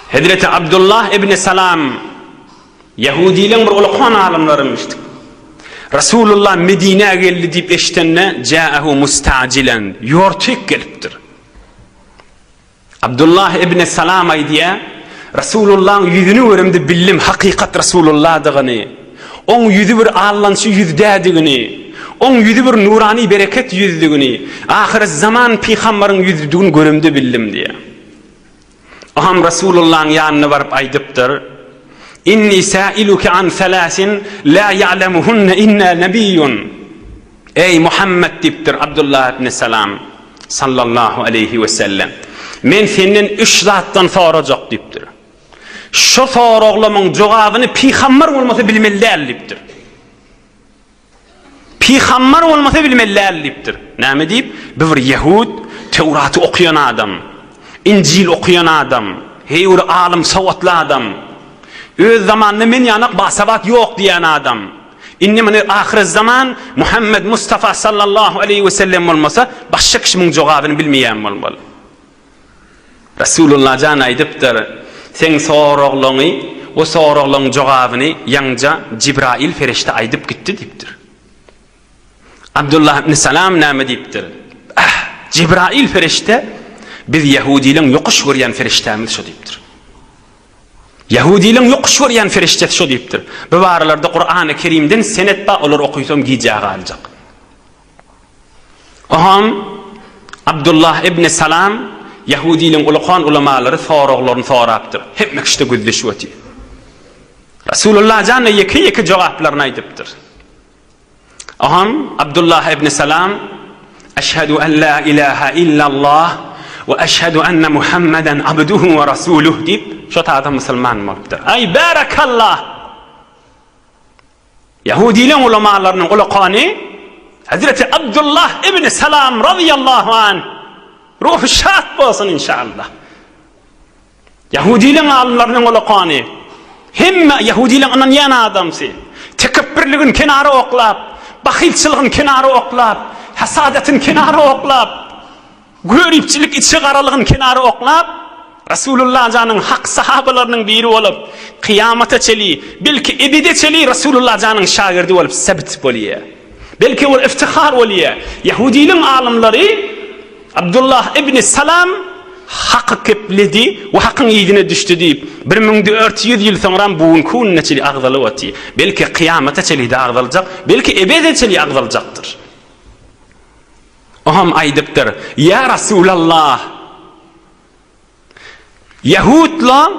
Hezreti Abdullah ibn Salam Ýahudylaň bir ulakan alymlaryň eşidip, Resulullah Medinä geldi diýip eşidende, Ja'ahu mustajilen, ýortik gelipdir. Abdullah ibn Salam aýdýar, Resulullahyň ýüzüni göremde bildim hakykat Resulullahdygyny. Oň ýüzi bir allançy ýüzdedigini, oň ýüzi bir nurany bereket ýüzdigini, ahyrzaman pygambaryň ýüzüdigini göremde bildim diýýär. Oňam Resulullahyň ýanyna baryp aýdypdyr, Inni säiluke an selasin la ya'lemuhunne inna nebiyyun. Eý Muhammet diýipdir Abdullah ibn Salam, sallallahu aleýhi wesellem, men senden üç zatdan sorajak diýipdir. Şu soraglamyň jogabyny pygambar bolmasa bilmeli däl diýipdir. Pygambar bolmasa bilmeli däl diýipdir. Näme diýip? Bu bir ýehud, Töwraty okaýan adam, Injil okaýan adam, heýwir alym sowatly adam. Öz zamanynda men ýanak basabat ýok diýen adam. Indi muny ahyrezzaman Muhammed Mustafa sallallahu aleýhi wesellem bolmasa, başga kişi muň jogabyny bilmeýän bolmaly. Resulullah jan aýdypdyr, Seň soraglaňy we soraglaň jogabyny ýaňja Jibraýyl perişde aýdyp gitdi diýipdir. Abdullah ibn Salam näme diýipdir, Ah, Jibraýyl perişde biz ýehudiliň ýokuş görýän perişdämiz şo diýipdir. Ýehudiliň ýokuş görýän perişdesi şo diýipdir. Bu baralarda Kurany Kerimden senet bar, olar okysam gijä galjak. Oham, Abdullah ibn Salam, ýahudiligiň ulykan ulamalary soraglaryny sorapdyr. Hemme kişi-de gözleşip otyr. Resulullah jan-a ýeke-ýeke jogaplaryny aýdypdyr. Oham, Abdullah ibn Salam, Eşhedü en la ilahe illallah we eşhedü enne Muhammeden abduhu we rasuluh diýip, şo taýda musulman bolupdyr. Aý, bärekallah! Ýahudylaryň ulamalarynyň ulakany Hezreti Abdullah ibn Salam razyýallahu anh, ruhy şat bolsun inşallah. Ýahudylaryň alymlarynyň ulakany hemme ýahudylaryň ynanýan adamsy, tekepbirligiň kenara oklap, bahylçylygyň kenara oklap, hasadatyn kenara oklap, Göripçilik içi garalygyny kenara oklap, Resulullah janyň hak sahabalarynyň biri bolup, kyýamata çeli, belki ebede çeli Resulullah janyň şagirdi bolup sebit bolýar. Belki ol iftihar bolýar. Ýahudiliň alymlary Abdullah ibni Salam haky kepledi we hakyň yzyna düşdi diýip, bir müň dört ýüz ýyl soňram bu günki gününe çeli agzalyp otyr. Belki kyýamata çelide agzaljak, belki ebede çeli agzaljakdyr. O hem aýdypdyr, Ýa Resulallah! Ýahudlaň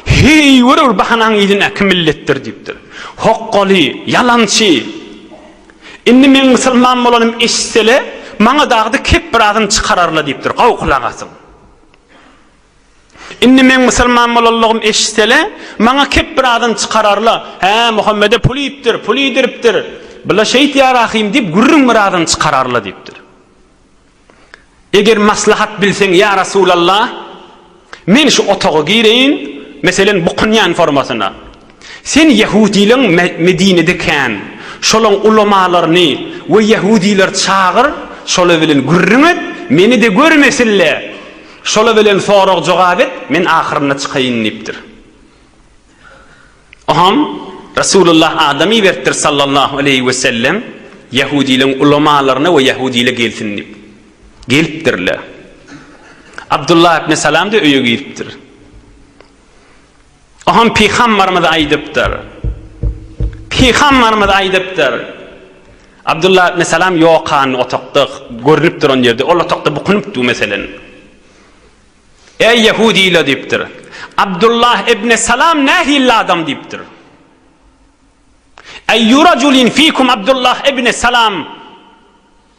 heýwir bir bahanaň yzyna kim milletdir diýipdir. Hokgaly, ýalançy! Indi meň musulman bolanym eşitsele, maňa dagdy kep bir azyn çykararla diýipdir. Gaw kulak asyň! Indi meň musulman bolanlygym eşitsele, maňa kep bir adam çykararla, Hä, Muhammede pul iýipdir, pul iýdiripdir. Bula şeýt ýarahym diýip gürrüň bir adam çykararla diýipdir. Eger maslahat bilseň, ýa Resulallah, men şu otaga gireýin, meselen, bukynýan formasyna. Sen ýehudylaň Medinede kän, şolaň ulamalaryny we ýehudylar çagyr, şolar bilen gürrüň et, meni-de görmesinle, şolar bilen sorag-jogap et, men ahyrynda çykaýyn diýipdir. Oňam Resulullah adam iberipdir sallallahu aleýhi wesellem, ýehudylaň ulamalaryna we ýehudyla gelsin diýip. Gelipdirler. Abdullah ibn Salam-da öýe giripdir. O hem Pygambarymyz aýdypdyr. Pygambarymyz aýdypdyr. Abdullah ibn Salam ýokan otaqda görnüp duran ýerde, ol otaqda bukunypdy meselen. Eý ýehudiler diýipdir. Abdullah ibn Salam nähilli adam diýipdir. Eýýu rajulin fikum Abdullah ibn Salam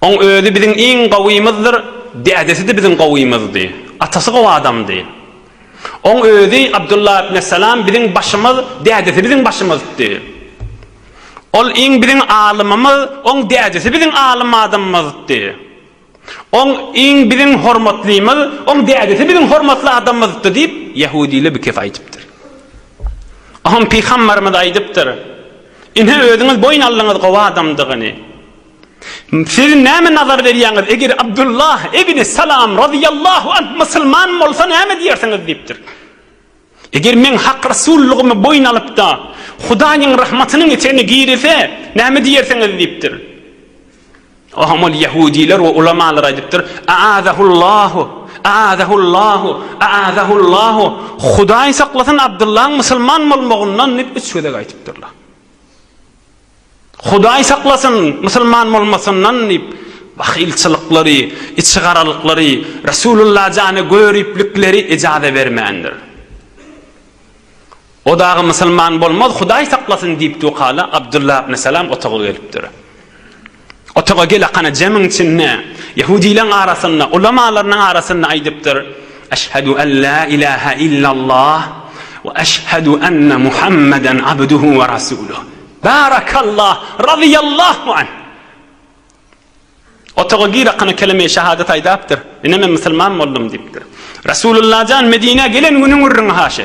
Oň özi biziň iň gowymyzdyr, dädesi-de biziň gowymyzdy. Atasy gowy adamdy. Oň özi, Abdullah ibn Salam, biziň başymyz, dädesi biziň başymyzdy. Ol iň biziň alymymyz, oň dädesi biziň alym adamymyzdy. Oň iň biziň hormatlymyz, oň dädesi biziň hormatly adamymyzdyr diýip, ýehudylar bikes aýdypdyr. Oňa pygamberimiz aýdypdyr, Ine, özüňiz boýun aldyňyz gowy adamdygyny. Siz näme nazar berýäňiz, eger Abdullah ibn Salam razyýallahu anh musulman bolsa näme diýersiňiz diýipdir. Eger meň hak rasullygymy boýun alyp-da, Hudaýyň rahmatynyň etegine girese, näme diýersiňiz? diýipdir. Oňa ol ýehudylar we ulamalar aýdypdyr, A'azahullahu, a'azahullahu, a'azahullahu, Hudaý saklasyn Abdyllaň musulman bolmagyndan diýip, üç gezek aýdypdyrlar. Hudaý saklasyn, musulman bolmasyndan diýip, bahylçylyklary, içigaralyklary, Resulullah jana göriplikleri ejaza bermändir. O dagy musulman bolmaz, Hudaý saklasyn diýipdi okala, Abdullah ibn Salam otaga gelipdir. Otaga gel-akana jemiň içinde, ýehudylaryň arasynda, ulamalarynyň arasynda aýdypdyr, Eşhedü en la ilahe illallah we eşhedü enne Muhammeden abduhu we rasuluh. Barakallah, razyýallahu anh! Otaga gir-akana kelime-i şehadet aýdapdyr, Ine men musulman boldum diýipdir. Resulullah jan Medinä gelen günüň gürrüňi haşy.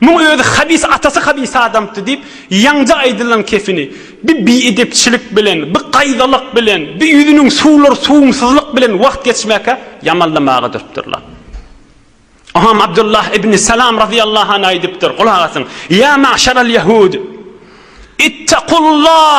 Muň özi habis atasy habis adamtdy diýip ýaňja aýdylan kefini bi biedepçilik bilen, bi gaýzalyk bilen, bi ýüzüniň suwlar suwumsyzlyk bilen wagt geçmäkä ýamanlamaga durupdyrlar. Oňam Abdullah ibn Salam razyýallahu anh aýdypdyr, gulak asyň, Ýa maşaral ýahud! Ittakullah!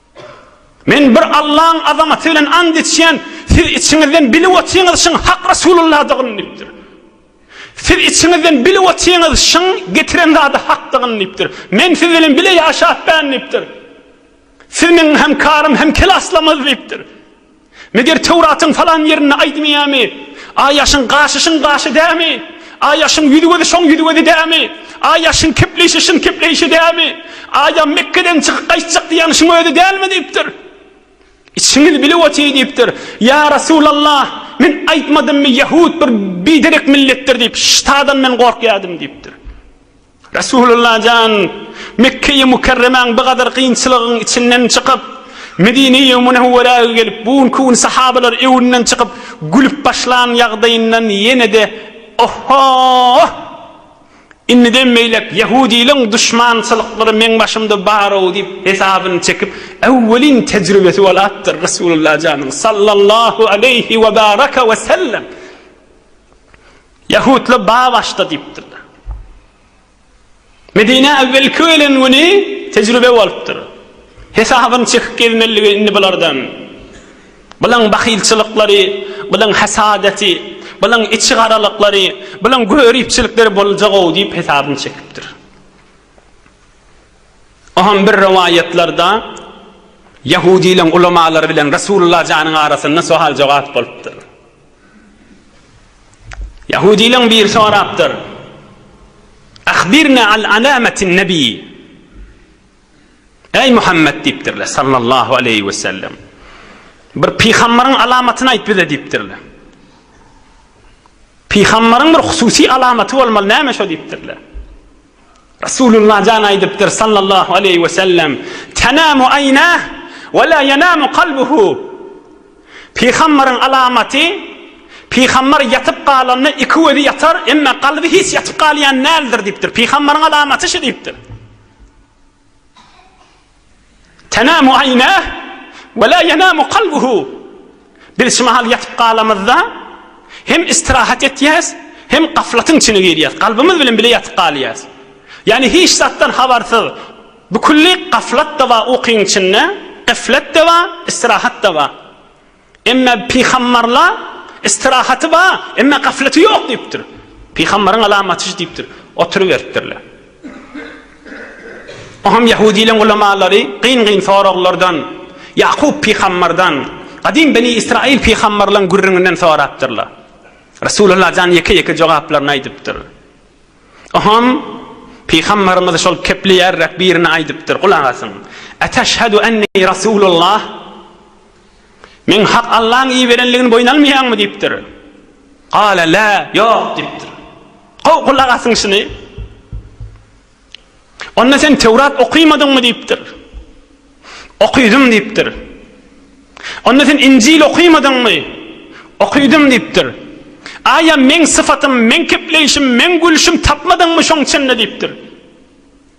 Men bir Allaň azamaty bilen ant içýän, siz içiňizden bilip otyňyz şyň Hak Resulullahdygyny diýipdir. Siz içiňizden bilip otyňyz şyň getiren zady Hakdygyny diýipdir. Men siz bilen bile ýaşapbän diýipdir. Siz meň hem karym hem kelaslamyz diýipdir. Meger Töwratyň falan ýerinde aýdmaýamy? A ýaşyň gaşyşyň gaşy dämi? A ýaşyň ýüzgözi şoň ýüzgözi dämi? A ýaşyň kepleýşi şyn kepleýşi dämi? A ýa Mekgeden çykyp gaýtjak diýýäň şuň özi dälmi? diýipdir. Içiňiz bilip otyr diýipdir. Ýa Resulallah, men aýtmadymmy ýahut bir biderek milletdir diýip, ştadan men gorkýadym diýipdir. Resulullah jan, Mekge-i Mükerremäň bu gadar kynçylygyň içinden çykyp, Medine-i Münewwerä gelip, bu günki gün sahabalar öwünden çykyp, gülüp başlan ýagdaýyndan ýene-de Ohhooh! Indiden beýläk ýehudiligiň duşmançylyklary meň başymda bar-ow diýip hesabyny çekip, äwwelin tejribesi bolapdyr Resulullah janyň sallallahu aleýhi we baraka we sellem. Ýahutlar ba başda diýipdirler. Medinä äwwelki gelen güni tejribe bolupdyr. Hesabyny çekip gezmeligi indi bulardan. Bulaň bahylçylyklary, bulaň hasadeti, bulaň içigaralyklary, bulaň göripçilikleri boljag-ow diýip hesabyny çekipdir. O hem bir rowaýatlarda ýahudylaň ulamalary bilen Resulullah janyň arasynda sohal-jogap bolupdyr. Ýahudylaň biri sorapdyr, Ahbirna al alamatin nebi, Eý Muhammet diýipdirler, sallallahu aleýhi we sellem, bir pygamberiň alamatyny aýt bize diýipdirler. Pygamberiň bir hususy alamaty bolmaly, näme şo diýipdirler. Resulullah jan aýdypdyr, sallallahu aleýhi we sellem, Tenamu aýnah we la yenamu kalbuhu. Pygambaryň alamaty, pygambar ýatyp galanda iki gözi ýatar, emma kalby hiç ýatyp galýan däldir diýipdir. Pygambaryň alamaty şu diýipdir. Tenamu aynah we la yenamu kalbuhu. Biz şu mahal ýatyp galamyzda hem istirahat etýäs, hem gaflatyň içine girýäs, kalbymyz bilen bile ýatyp galýas. Ýani hiç zatdan habarsyz, bükülli gaflat-da bar ukyň içinde, geflet-de bar, istirahat-da bar. Emma pygambarla istirahaty ba, emma gafleti ýok diýipdir. Pygambaryň alamaty şu diýipdir. Oturyberipdirler. Oňam ýahudiliň ulamalary gyn-gyn soraglardan Ýakup pygambardan, gadym Beni Israil pygambarlaryň gürrüňinden sorapdyrlar. Resulullah jan ýeke-ýeke jogaplaryny aýdypdyr. Oňam pygambarymyz şol kepleýärräk birini aýdypdyr. Gulak asyň. Eteşhedü enni Resulullah. Men Hak Allaň iberenligini boýun almaýaňmy? diýipdir. Gala lä, ýok diýipdir. Gowy gulak asyň şuny. Onda sen Tewrat okymadyňmy diýipdir. Okydym diýipdir. Onda sen Injil okymadyňmy? Okydym diýipdir. Aýa meň syfatym, meň kepleýşim, meň gülşüm tapmadyňmy şoň içinde diýipdir.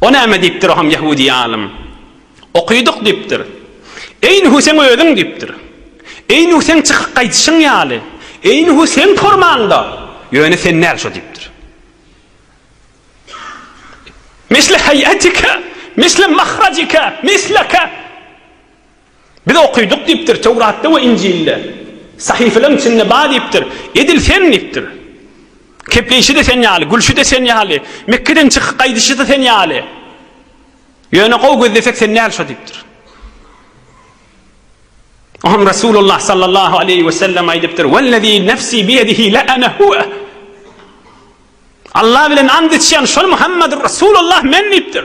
O näme diýipdir, o hem ýehudi alym? Okydyk diýipdir. Eý Nuh seň özüň diýipdir. Eý Nuh seň çykyp gaýdyşyň ýaly. Eý Nuh seň formaňda. Ýöne sen däl şo diýipdir. Misle heý'atika, misle mahrajika, misleke. Biz okydyk diýipdir, Töwratda we Injilde. Sahyfalaryň içinde bar diýipdir. Edil sen diýipdir. Kepleýşi-de sen ýaly, gülşi-de sen ýaly, Mekgeden çykyp gaýdyşy-da sen ýaly. Ýöne gowy gözlesek sen däl şo diýipdir. Oňa Resulullah sallallahu aleýhi we sellem aýdypdyr, Wellezî nefsî biýedihî le ene huve. Alla bilen and içýän şol Muhammedur Resulullah men diýipdir.